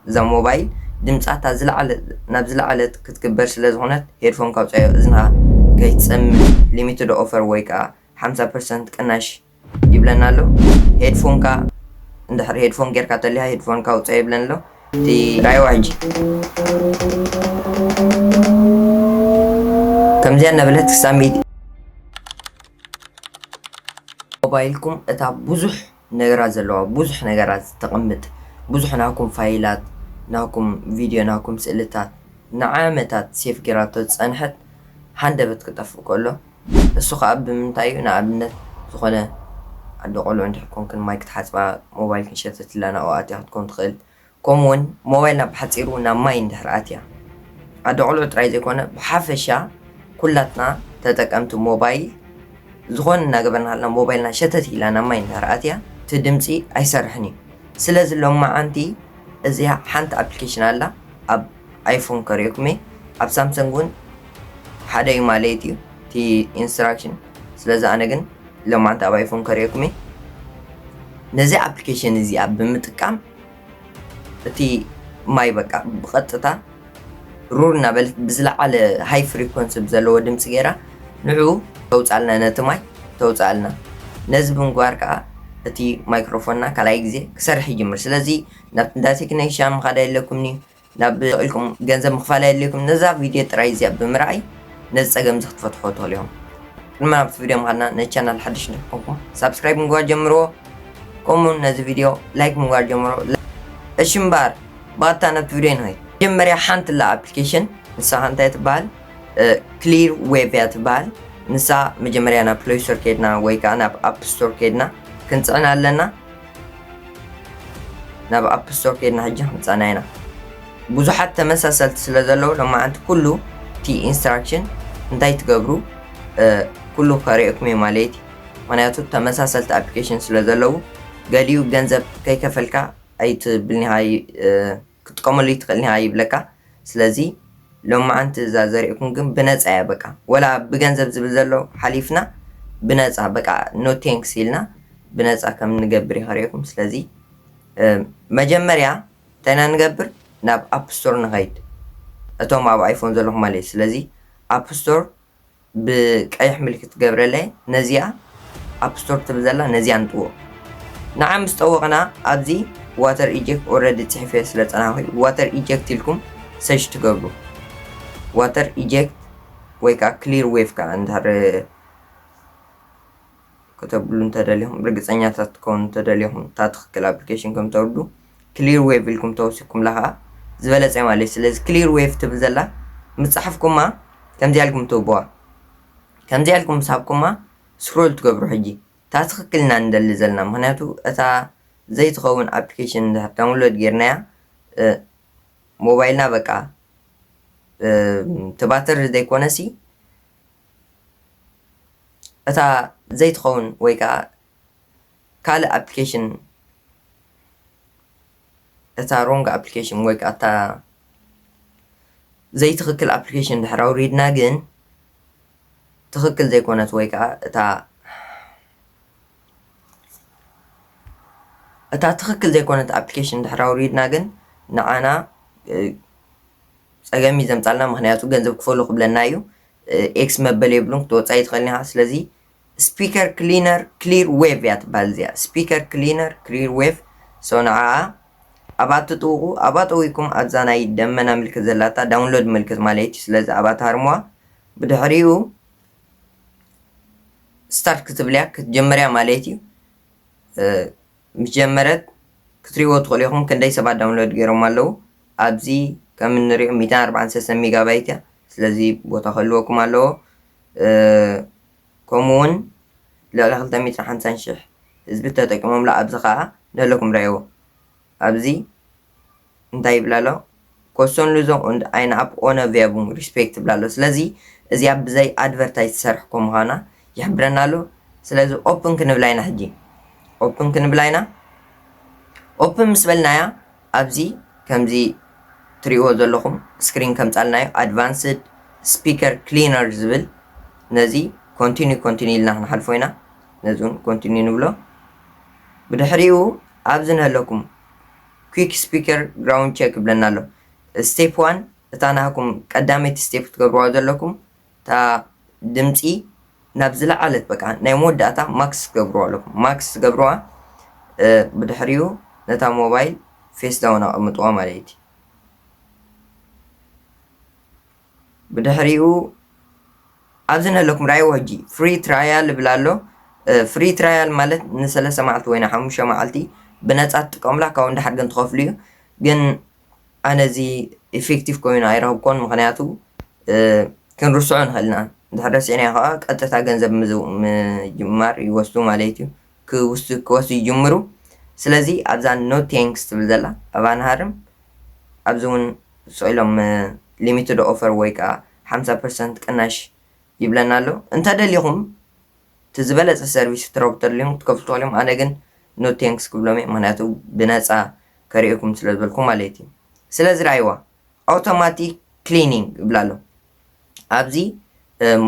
እዛ ሞባይል ድምጻ እታ ዝለዓለ ናብ ዝለዓለት ክትግበር ስለ ዝኾነት ሄድፎን ካውጻዮ እዝንኻ ከይትጸምም ሊሚትድ ኦፈር ወይ ከኣ ሓምሳ ፐርሰንት ቅናሽ ይብለና ኣሎ ሄድፎንካ እንድሕር ሄድፎን ጌርካ ተሊኻ ሄድፎንካ ኣውጻዮ ይብለኒ ኣሎ እቲ ራይዋ ሕጂ ከምዚኣ እናበለት ክሳብ ሚእቲ ሞባይልኩም እታ ብዙሕ ነገራት ዘለዋ ብዙሕ ነገራት ተቅምጥ ብዙሕ ናኩም ፋይላት ናኩም ቪድዮ ናኩም ስእልታት ንዓመታት ሴፍ ጌራቶ ዝጸንሐት ሃንደበት ክጠፍእ ከሎ እሱ ከኣ ብምንታይ እዩ ንኣብነት ዝኮነ ኣዶ ቆልዑ እንድሕር ኮንክን ማይ ክትሓጽባ ሞባይልክን ሸተትላ ናብኡ ኣትያ ክትኮን ትክእል ከምኡ ውን ሞባይልና ብሓጺሩ ናብ ማይ እንድሕር ኣትያ ኣደቆልዑ ጥራይ ዘይኮነ ብሓፈሻ ኩላትና ተጠቀምቲ ሞባይል ዝኾነ እናገበርና ሃልና ሞባይልና ሸተት ኢላ ናብ ማይ እንድሕር ኣትያ እቲ ድምጺ ኣይሰርሕን እዩ ስለዚ ሎማዓንቲ እዚኣ ሓንቲ ኣፕልኬሽን ኣላ ኣብ ኣይፎን ከሪኦኩሜ ኣብ ሳምሰንግ ውን ሓደ ዩ ማለየት ዩ እቲ ኢንስትራክሽን ስለዚ ኣነ ግን ሎማዓንቲ ኣብ ኣይፎን ከሪኦኩሜ ነዚ ኣፕሊኬሽን እዚኣ ብምጥቃም እቲ ማይ በቃ ብቐጥታ ሩር እናበለት ብዝለዓለ ሃይ ፍሪኮንሲ ዘለዎ ድምፂ ገይራ ንዑ ተውፃልና ነቲ ማይ ተውፃልና ነዚ ብምግባር ከዓ እቲ ማይክሮፎንና ካልኣይ ግዜ ክሰርሕ ይጅምር ስለዚ ናብ እንዳ ቴክነሻ ምኻድ ኣየድለኩምን'ዩ፣ ናብ ሱቕ ኢልኩም ገንዘብ ምኽፋል ኣየድልየኩምን፣ ነዛ ቪድዮ ጥራይ እዚኣ ብምርኣይ ነዚ ጸገም'ዚ ክትፈትሕዎ ትኽእሉ ኢኹም። ቅድሚ ናብቲ ቪድዮ ምኻድና ነዚ ቻናል ሓድሽ እንተ ኾንኩም ሳብስክራይብ ምግባር ጀምርዎ፣ ከምኡ'ውን ነዚ ቪድዮ ላይክ ምግባር ጀምርዎ። እሺ እምበኣር ብቐጥታ ናብቲ ቪድዮ ንኸይድ። መጀመርያ ሓንቲ ኣላ ኣፕሊኬሽን ንሳ ከ እንታይ ትበሃል ክሊር ዌቭ እያ ትበሃል። ንሳ መጀመርያ ናብ ፕለይ ስቶር ኬድና ወይ ከኣ ናብ ኣፕ ስቶር ኬድና ክንጽዕና ኣለና። ናብ ኣፕ ስቶር ከድና ሕጂ ክንጻና ኢና ብዙሓት ተመሳሰልቲ ስለ ዘለዉ ሎማዓንቲ ኩሉ እቲ ኢንስትራክሽን እንታይ ትገብሩ ኩሉ ከርእየኩም እዩ ማለት እዩ ምክንያቱ ተመሳሰልቲ ኣፕሊኬሽን ስለ ዘለዉ ገሊኡ ገንዘብ ከይከፈልካ ኣይትብልኒኻ ክትጥቀመሉ ኣይትክእልን እያ ይብለካ ስለዚ ሎማዓንቲ እዛ ዘሪእኩም ግን ብነፃ እያ በቃ ወላ ብገንዘብ ዝብል ዘሎ ሓሊፍና ብነፃ በቃ ኖ ቴንክስ ኢልና ብነፃ ከም ንገብር እየ ከሪእኩም ስለዚ መጀመርያ እንታይ ኢና ንገብር ናብ ኣፕ ስቶር ንኸይድ እቶም ኣብ ኣይፎን ዘለኹም ማለት እዩ ስለዚ ኣፕ ስቶር ብቀይሕ ምልክት ገብረለይ ነዚኣ ኣፕ ስቶር ትብል ዘላ ነዚኣ ንጥዎ ንዓ ምስ ጠወቕና ኣብዚ ዋተር ኢጀክት ኦረዲ ጽሒፈ ስለ ጸናኹ ዋተር ኢጀክት ኢልኩም ሰሽ ትገብሩ ዋተር ኢጀክት ወይ ከዓ ክሊር ዌቭ ከዓ እንድሕር ከተብሉ እንተደሊኹም ርግፀኛታት ትከውን እንተደሊኹም እታ ትኽክል ኣፕሊኬሽን ከም ተውርዱ ክሊር ዌቭ ኢልኩም ተወሲኩምላ ከኣ ዝበለጸ ማለት እዩ ስለዚ ክሊር ዌቭ ትብል ዘላ ምስ ጻሕፍኩማ ከምዚኣ ኢልኩም ትህብዋ ከምዚኣ ኢልኩም ምስ ሃብኩማ ስክሮል ትገብሩ ሕጂ እታ ትኽክል ኢና ንደሊ ዘለና ምክንያቱ እታ ዘይትኸውን ኣፕሊኬሽን ድሕር ዳውንሎድ ጌርናያ ሞባይልና በቃ ትባትር ዘይኮነሲ እታ ዘይትኸውን ወይ ከዓ ካልእ ኣፕሊኬሽን እታ ሮንግ ኣፕሊኬሽን ወይ ከዓ እታ ዘይትኽክል ኣፕሊኬሽን ድሕር ኣውሪድና ግን ትኽክል ዘይኮነት ወይ ከዓ እታ እታ ትኽክል ዘይኮነት ኣፕሊኬሽን ድሕር ኣውሪድና ግን ንዓና ፀገም እዩ ዘምፃልና ምክንያቱ ገንዘብ ክፈሉ ክብለና እዩ ኤክስ መበል የብሉን ክትወፃ ይትኽእል ኢኻ ስለዚ ስፒከር ክሊነር ክሊር ዌቭ እያ ትበሃል እዚኣ ስፒከር ክሊነር ክሊር ዌቭ ሶ ንዓኣ ኣብኣ ትጥውቑ ኣብኣ ጠዊኩም ኣብዛ ናይ ደመና ምልክት ዘላታ ዳውንሎድ ምልክት ማለት እዩ ስለዚ ኣብኣ ትሃርምዋ ብድሕሪኡ ስታርት ክትብልያ ክትጀመርያ ማለት እዩ ምስ ጀመረት ክትሪእዎ ትኽእሉ ኢኹም ክንደይ ሰባት ዳውንሎድ ገይሮም ኣለዉ ኣብዚ ከም እንሪኦ 143 ሜጋባይት እያ ስለዚ ቦታ ክህልወኩም ኣለዎ ከምኡውን ልዕሊ ክልተ ሚእትን ሓምሳን ሽሕ ህዝቢ ተጠቂሞምሉ ኣብዚ ከኣ ንህለኩም ረኣይዎ ኣብዚ እንታይ ይብል ኣሎ ኮሶን ሉዞን und eine ab ohne Werbung Respekt ይብል ኣሎ ስለዚ እዚኣ ብዘይ ኣድቨርታይዝ ትሰርሕ ኮ ምዃና ይሕብረና ኣሎ ስለዚ ኦፕን ክንብላ ኢና ሕጂ ኦፕን ክንብላ ኢና ኦፕን ምስ በልናያ ኣብዚ ከምዚ ትሪእዎ ዘለኹም ስክሪን ከምጻልናዮ ኣድቫንስድ ስፒከር ክሊነር ዝብል ነዚ ኮንቲኒ ኮንቲኒ ኢልና ክንሓልፎ ኢና ነዚ እውን ኮንቲኒ ንብሎ ብድሕሪኡ ኣብዚ ንህለኩም ኩክ ስፒከር ግራውንድ ቸክ ይብለና ኣሎ ስቴፕ ዋን እታ ናህኩም ቀዳመይቲ ስቴፕ ትገብርዋ ዘለኩም እታ ድምጺ ናብ ዝለዓለት በቃ ናይ መወዳእታ ማክስ ትገብርዋ ኣለኩም ማክስ ትገብርዋ ብድሕሪኡ ነታ ሞባይል ፌስ ዳውን ኣቐምጥዋ ማለት እዩ ብድሕሪኡ ኣብዚ ነለኩም ራይዎ ሕጂ ፍሪ ትራያል ይብል ኣሎ ፍሪ ትራያል ማለት ንሰለስተ መዓልቲ ወይ ንሓሙሽተ መዓልቲ ብነፃ ትጥቀሙላ ካብኡ እንዳሓር ግን ትኸፍሉ እዩ ግን ኣነ እዚ ኢፊክቲቭ ኮይኑ ኣይረኽብኩዎን ምኽንያቱ ክንርስዖ ንኽእል ኢና እንድሕር ረሲዕናዮ ከኣ ቀጥታ ገንዘብ ምጅማር ይወስዱ ማለት እዩ ክውስ ክወስዱ ይጅምሩ ስለዚ ኣብዛ ኖ ቴንክስ ትብል ዘላ ኣብ ኣንሃርም ኣብዚ እውን ስኢሎም ሊሚትድ ኦፈር ወይ ከዓ ሓምሳ ፐርሰንት ቅናሽ ይብለና ኣሎ እንተደሊኹም እቲ ዝበለፀ ሰርቪስ ክትረክቡ ተድልዮም ክትከፍሉ ትኽእሉ እዮም ኣነ ግን ኖ ቴንክስ ክብሎም እየ ምኽንያቱ ብነፃ ከርእየኩም ስለ ዝበልኩ ማለት እዩ ስለዚ ርኣይዋ ኣውቶማቲክ ክሊኒንግ ይብላ ኣሎ ኣብዚ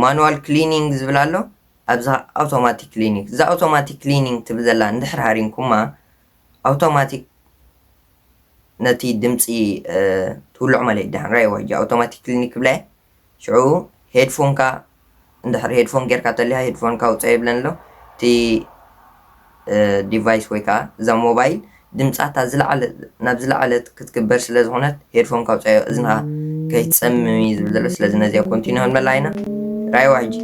ማኑዋል ክሊኒንግ ዝብል ኣሎ ኣብዛ ኣውቶማቲክ ክሊኒንግ እዛ ኣውቶማቲክ ክሊኒንግ ትብል ዘላ እንድሕር ሃሪምኩማ ኣውቶማቲክ ነቲ ድምፂ ትውልዑ ማለት እዩ ድሓን ራይዋ እጂ ኣውቶማቲክ ክሊኒክ ክብላ ሽዑ ሄድፎንካ እንድሕር ሄድፎን ጌርካ ተሊካ ሄድፎንካ ኣውጽኣ ይብለኒ ኣሎ እቲ ዲቫይስ ወይ ከዓ እዛ ሞባይል ድምፃ እታ ዝለዓለ ናብ ዝለዓለት ክትግበር ስለ ዝኾነት ሄድፎንካ ኣውፅኣዮ እዝንኻ ከይትፀምም እዩ ዝብል ዘሎ ስለዚ ነዚኣ ኮንቲኒ ክንበላ ኢና ራይዋ ሕጂ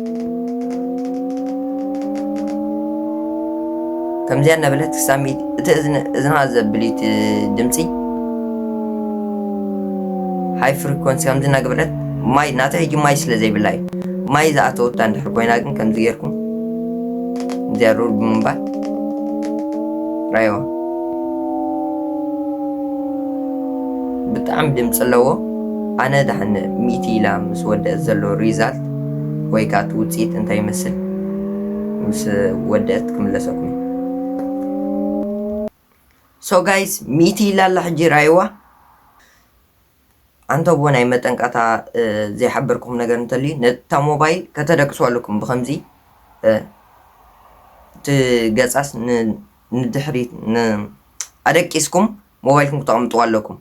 ከምዚያ እናበለት ክሳብ እቲ እዝንኻ ዘብል እዩ ድምፂ ሃይ ፍሪኮንሲ ከምዚ እናገበረት ማይ ናተይ ሕጂ ማይ ስለ ዘይብላ እዩ ማይ ዝኣተወታ እንድሕር ኮይና ግን ከምዚ ጌርኩም እዚኣ ሩል ብምንባር ራይዋ ብጣዕሚ ድምፂ ኣለዎ ኣነ ዳሕን ሚእቲ ኢላ ምስ ወደእት ዘሎ ሪዛልት ወይ ከዓ እቲ ውፅኢት እንታይ ይመስል ምስ ወደእት ክምለሰኩም ሶ ጋይስ ሚእቲ ኢላ ኣላ ሕጂ ርኣይዋ ኣንተቦ ናይ መጠንቀታ ዘይሓበርኩም ነገር እንተልዩ ነታ ሞባይል ከተደቅሱ ኣለኩም ብከምዚ እቲ ገጻስ ንድሕሪት ኣደቂስኩም ሞባይልኩም ክተቐምጥዋ ኣለኩም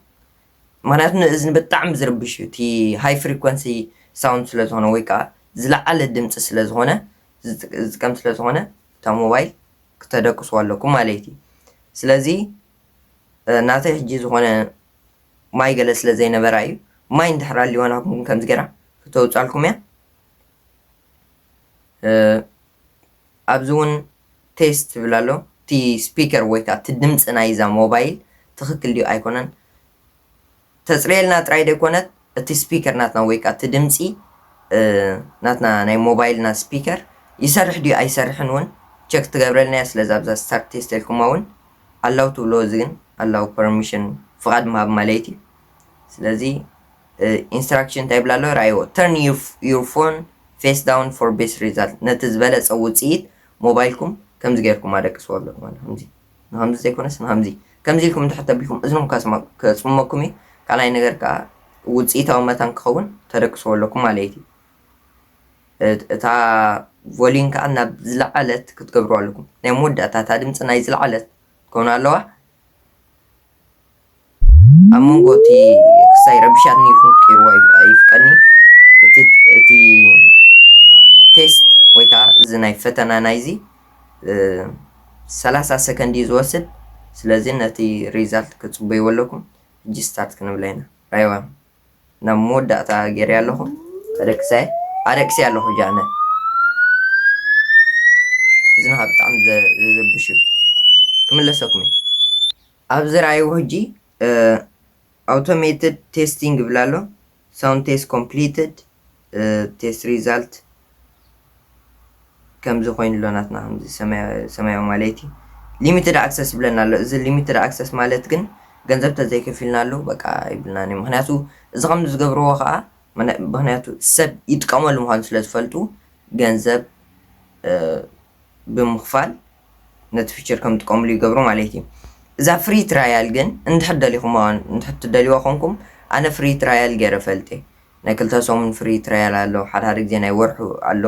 ምክንያቱ ንእዝኒ ብጣዕሚ ዝርብሽ እዩ እቲ ሃይ ፍሪኮንሲ ሳውንድ ስለ ዝኾነ ወይ ከዓ ዝለዓለ ድምፂ ስለ ዝኾነ ዝጥቀም ስለ ዝኾነ እታ ሞባይል ክተደቅስዎ ኣለኩም ማለይት እዩ ስለዚ ናተይ ሕጂ ዝኮነ ማይ ገለ ስለ ዘይነበራ እዩ ማይ እንድሕር ኣልዋ ናትኩም ግን ከምዚ ገራ ክተውጻልኩም እያ ኣብዚ እውን ቴስት ትብል ኣሎ እቲ ስፒከር ወይ ከዓ እቲ ድምፂ ናይዛ ሞባይል ትክክል ድዩ ኣይኮነን ተጽርየልና ጥራይ ደይኮነት እቲ ስፒከር ናትና ወይ ከኣ እቲ ድምጺ ናትና ናይ ሞባይልና ስፒከር ይሰርሕ ድዩ ኣይሰርሕን ውን ቸክ ክትገብረልና እያ ስለዚ ኣብዛ ስታርት ቴስት እልኩማ ውን ኣላው ትብልዎ እዚ ግን ኣላው ፐርሚሽን ፍቓድ ምሃብ ማለት እዩ ስለዚ ኢንስትራክሽን እንታይ ይብል ኣሎ ርኣይዎ ተርን ዩር ፎን ፌስ ዳውን ፎር ቤስት ሪዛልት ነቲ ዝበለጸ ውጽኢት ሞባይልኩም ከምዚ ጌርኩም ኣደቅስዎ ኣሎ ማለት ከምዚ ንኸምዚ ዘይኮነስ ንኸምዚ ከምዚ ኢልኩም እንድሕር ተቢልኩም እዝንኹም ከጽምመኩም እዩ። ካልኣይ ነገር ከኣ ውጽኢታዊ መታን ክኸውን ተደቅስዎ ኣለኩም ማለየት እዩ። እታ ቮሊዩም ከኣ ናብ ዝለዓለት ክትገብርዋ ኣለኩም። ናይ መወዳእታ እታ ድምጺ ናይ ዝለዓለት ትከውን ኣለዋ። ኣብ መንጎ እቲ ክሳይ ረቢሻትኒ ኢልኩም ክትቀይርዎ ኣይፍቀድኒ እቲ እቲ ቴስት ወይ ከኣ እዚ ናይ ፈተና ናይዚ ሰላሳ ሰከንድ እዩ ዝወስድ ስለዚ ነቲ ሪዛልት ክትጽበይዎ ኣለኩም ሕጂ ስታርት ክንብላ ኢና ራይዋ ናብ መወዳእታ ጌርያ ኣለኹ ኣደቅሰ ኣደቅሰ ኣለኹ ጃነ እዝንኻ ብጣዕሚ ዘዘብሽ እዩ ክምለሰኩም እዩ ኣብዚ ራእይዎ ሕጂ ኣውቶሜትድ ቴስቲንግ ይብላ ኣሎ ሳውንድ ቴስት ኮምፕሊትድ ቴስት ሪዛልት ከምዚ ኮይኑ ኣሎ ናትና ከምዚ ሰማያዊ ማለይቲ ሊሚትድ ኣክሰስ ይብለና ኣሎ እዚ ሊሚትድ ኣክሰስ ማለት ግን ገንዘብ ተዘይከፊልናሉ በቃ ይብልናን እዩ ምክንያቱ እዚ ከም ዝገብርዎ ከዓ ምክንያቱ ሰብ ይጥቀመሉ ምኳኑ ስለ ዝፈልጡ ገንዘብ ብምክፋል ነቲ ፊቸር ከም ጥቀምሉ ይገብሩ ማለት እዩ እዛ ፍሪ ትራያል ግን እንድሕር ደሊኹም እንድሕር ትደልይዋ ኮንኩም ኣነ ፍሪ ትራያል ገይረ ፈልጤ ናይ ክልተ ሰሙን ፍሪ ትራያል ኣሎ ሓደ ሓደ ግዜ ናይ ወርሑ ኣሎ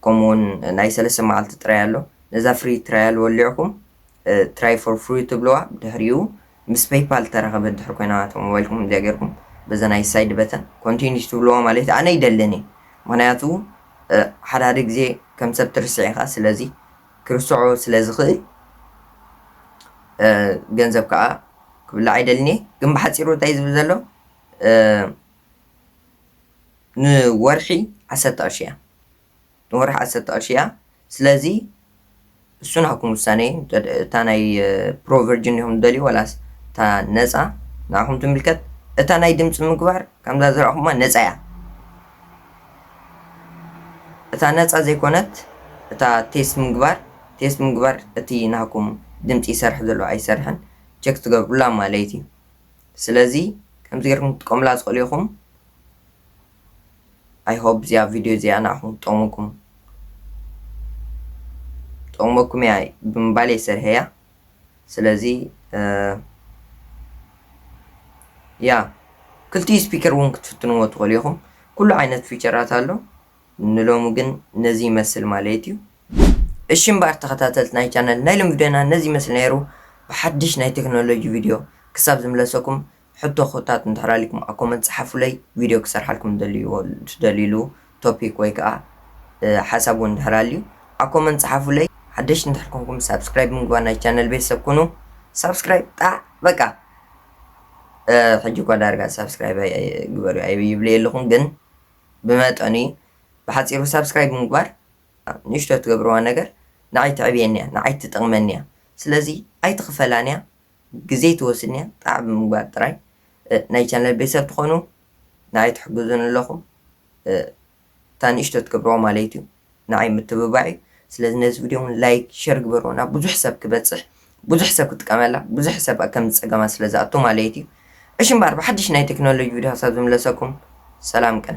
ከምኡ ውን ናይ ሰለስተ መዓልቲ ጥራይ ኣሎ ነዛ ፍሪ ትራያል ወሊዕኩም ትራይ ፎር ፍሪ ትብልዋ ብድሕሪኡ ምስ ፔይፓል እተራኸበት ድሕሪ ኮይና እቶም ሞባይልኩም እዚኣ ጌርኩም በዛ ናይ ሳይድ በተን ኮንቲኒስ ትብልዋ ማለት እዩ ኣነ ይደልን እዩ ምክንያቱ ሓደ ሓደ ግዜ ከም ሰብ ትርስዕ ኢኻ ስለዚ ክርስዖ ስለ ዝኽእል ገንዘብ ከዓ ክብላዕ ኣይደልን እየ ግን ብሓፂሩ እንታይ ዝብል ዘሎ ንወርሒ ዓሰርተ ቅርሺ እያ ንወርሒ ዓሰርተ ቅርሺ እያ ስለዚ እሱ ናብኩም ውሳኔ እዩ እታ ናይ ፕሮ ቨርጅን ዲኹም ትደልዩ ወላስ እታ ነፃ ንዓኹም ትምልከት እታ ናይ ድምፂ ምግባር ከምዛ ዝረእኹማ ነፃ እያ እታ ነፃ ዘይኮነት እታ ቴስት ምግባር ቴስት ምግባር እቲ ናኩም ድምፂ ይሰርሕ ዘሎ ኣይሰርሕን ቸክ ትገብሩላ ማለት እዩ ስለዚ ከምዚ ገርኩም ክትጥቀሙላ ትክእሉ ኢኩም i hope እዚኣ ቪድዮ እዚኣ ንዓኩም ክትጠቅመኩም ትጠቅመኩም እያ ብምባል እየ ሰርሐያ ስለዚ ያ ክልቲኡ ስፒከር እውን ክትፍትንዎ ትክእሉ ኢኹም ኩሉ ዓይነት ፊቸራት ኣሎ ንሎሚ ግን ነዚ ይመስል ማለት እዩ። እሺ እምበኣር ተኸታተልቲ ናይ ቻነል ናይ ሎሚ ቪድዮና ነዚ ይመስል ነይሩ። ብሓድሽ ናይ ቴክኖሎጂ ቪድዮ ክሳብ ዝምለሰኩም ሕቶኹታት እንድሕር ኣልይኩም ኣብ ኮመንት ጽሓፉለይ ቪድዮ ክሰርሓልኩም እትደልይዎ እትደልይሉ ቶፒክ ወይ ከኣ ሓሳብ እውን እንድሕር ኣልዩ ኣብ ኮመንት ጽሓፉለይ። ሓደሽቲ እንድሕር ኮንኩም ሳብስክራይብ ብምግባር ናይ ቻነል ቤተሰብ ኩኑ። ሳብስክራይብ ጣዕ በቃ ሕጂ እኳ ዳርጋ ሳብስክራይብ ግበሩ ኣይብልየ ኣለኹ ግን ብመጠኑ እዩ ብሓጺሩ ሳብስክራይብ ምግባር ንእሽቶ ትገብርዋ ነገር ንዓይ ተዕብየኒ እያ ንዓይ ትጠቅመኒ እያ ስለዚ ኣይትክፈላን እያ ግዜ ትወስድን እያ ጣዕ ብምግባር ጥራይ ናይ ቻነል ቤተሰብ ትኮኑ ንዓይ ትሕግዙኒ ኣለኩም እታ ንእሽቶ ትገብርዋ ማለይት እዩ። ንዓይ ምትብባዕ እዩ ስለዚ ነዚ ቪድዮ ውን ላይክ ሸር ግበርዎ ናብ ብዙሕ ሰብ ክበጽሕ ብዙሕ ሰብ ክጥቀመላ ብዙሕ ሰብ ኣብ ከምዚ ጸገማት ስለ ዝኣቱ ማለየት እዩ እሺ እምበኣር ብሓድሽ ናይ ተክኖሎጂ ቪድዮ ክሳብ ዝምለሰኩም ሰላም ቅነ።